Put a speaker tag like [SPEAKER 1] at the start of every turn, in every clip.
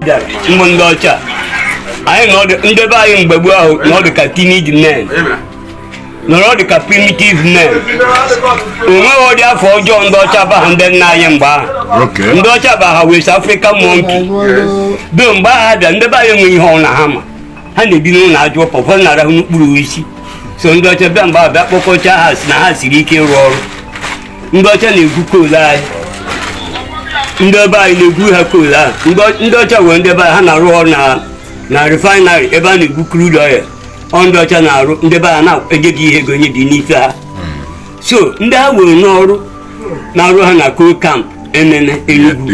[SPEAKER 1] ndị ọcha anyị nọ ndị be anyị mgbe gboo ahụ nọ dị ka timid men nọrọ dị ka primitive men o nweghị ụdị afa ọjọọ ndị ọcha abaghị ndị nna anyị mgbe ahụ ndị
[SPEAKER 2] ọcha ba ha
[SPEAKER 1] west african monkey do mgbe ahụ bịa ndị be anyị enweghị ihe ọ bụla ha ma ha na-ebi n'ụlọ aja ụpa ụfọdụ na-arahụ n'okpuru osisi so ndị ọcha bịa mgbe ahụ bịa kpọkọcha ha sị na ha siri ike ịrụ ọrụ ndị ọcha na-egwu coal anyị ndị be anyị na-egwu ha coal ahụ ndị ọcha were ndị be anyị ha na-arụ ọrụ na na refinery ebe a na-egwu crude oil ọ ndị ọcha na-arụ ndị ebe a na-enye gị ihe ego nye gị n'ife ha so ndị ha were n'ọrụ na-arụ ha na coal camp emene enugwu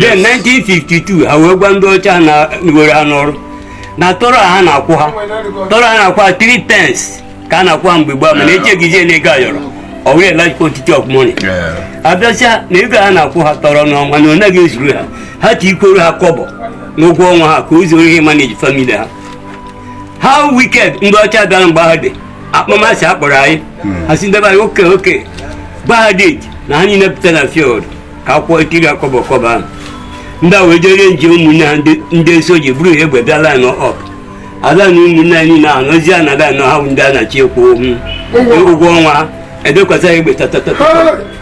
[SPEAKER 1] then 1952 ha wee gwa ndị ọcha na were ha n'ọrụ na tọrọ ha na-akwụ ha tọrọ ha na-akwụ ha 3 pence ka a na-akwụ ha mgbe gboo mana e chenjizie na ego ayọrọ ọ wụ large quantity of money ha bịa sị na ego a na-akwụ ha tọrọ n'ọnwa na ọ naghị ezuru ha ha tikwuoro ha kọbọ n'ụgwọ ọnwa ha ka o zuru ihe manage family ha how wicked ndị ọcha bịara mgbe ahụ dị akpọmasị a kpọrọ anyị hmm. ha sị ndị be anyị okay okay gba ha date na ha niile pụta na field ka akwụkwọ etiri ha kọbọ kọbọ ahụ ndị a wee jere nje ụmụnne ha ndị soja buru ihe egbe bịa line up ada na ụmụnne anyị niile ahụ n'ozi a na-ada anọ ha bụ ndị a na-achị ekwu ụgwọ ọnwa ebukwasa ya egbe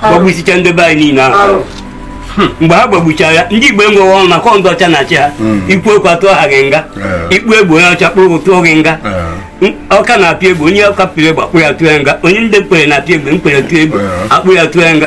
[SPEAKER 1] gbagbusichaa ndị be anyị niile ahụ hmm. mgbe ha gbagbuchara ya ndị igbo enweghị ọnụ maka ndị ọcha na-achị ha hmm. i kwuo okwu atụọ gị nga ị kpụ egbe onye ọcha kpụrụ atụọ gị nga ọka na-apịa egbe onye ọka pịrị egbe akpụ ya tụọ ya nga onye ndị nkwerre na-apịa egbe nkwerre tụọ egbe akpụ ya tụọ ya nga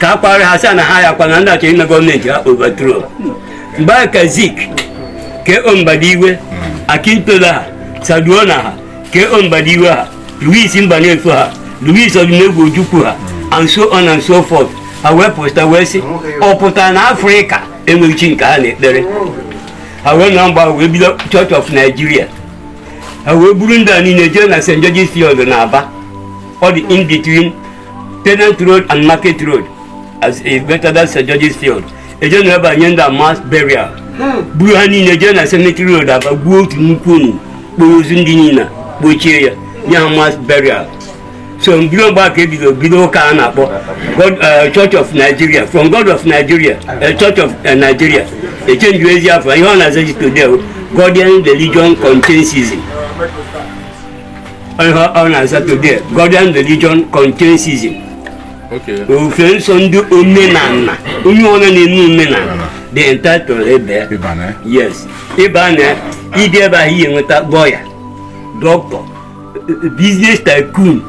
[SPEAKER 1] ka a kwarị ha sị na ha ya kwana ndị a chọ ime government ha overthrow mgbe ahụ ka zik k o mbadiwe akintola ha sardauna ha k o mbadiwe ha louis mbanefo ha louis odumegwu ojukwu ha and so on and so forth ha wee pụta wee sị ọ pụtara na afrịka enweghị chi nke ha na-ekpere ha wee nọ mgbe ahụ wee bido church of nigeria ha wee buru ndị a niile jee na st george's field na aba ọ dị in between Tenant Road and Market Road as a better than St. George's Field. E jee na ebe ahụ nye ndị a mass burial. Buru ha niile jee na Cemetery Road Aba gwuo otu nnukwu ọnụ kporo ozu ndị a niile kpochie ya nye ha mass burial. So bido mgbe ahụ ka e bido bido ụka a na-akpọ uh, Church of Nigeria from God of Nigeria uh, Church of uh, Nigeria e chenjiezi afa ihe ọ na-azazi today Godian Religion Contingency Ihe ọ na-aza today Godian religion contentism ofufe nsọ ndị omenala onye ọ bụla na-eme omenala dị entitled ebe yes ịba na ịdị ebe ahụ ị ya-enweta lawyer doctor business tycoon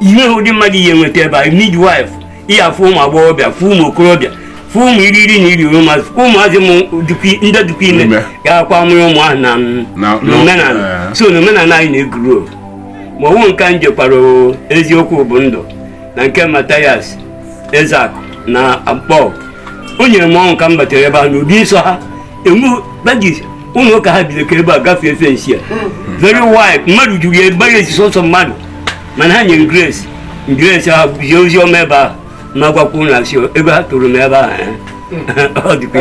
[SPEAKER 1] ihe ụdị mmadụ ị ya-enweta ebe ahụ midwife ị ya-afụ ụmụ agbọghọbịa fụ ụmụ okorobịa fụ ụmụ iri iri na iri ụmụazị fụ ụmụazị mụ dịkwa- ndị dịkwa ime Ime. ga-akwa amụrụ ụmụ ahụ na m- Na- na na- omenala eh. so na omenala anyị na-egrow o. ma ọ wụ nke m jekwara o, eziokwu bụ ndụ na nke Mathias Ezeakụ na akpọ o nyere m ọṅụ ka m batara ebe a n'ụdị nsọ ha enwe badges ụlọ ụka ha bido ka ebe a gafee fence ya very wide mmadụ juru ya ebere esi sọsọ mmadụ mana ha nyere grace grace ha zie ozi ọma ebe a ma gwakwa unu sị ebe ha tụrụ m ebe a ọ dịkwa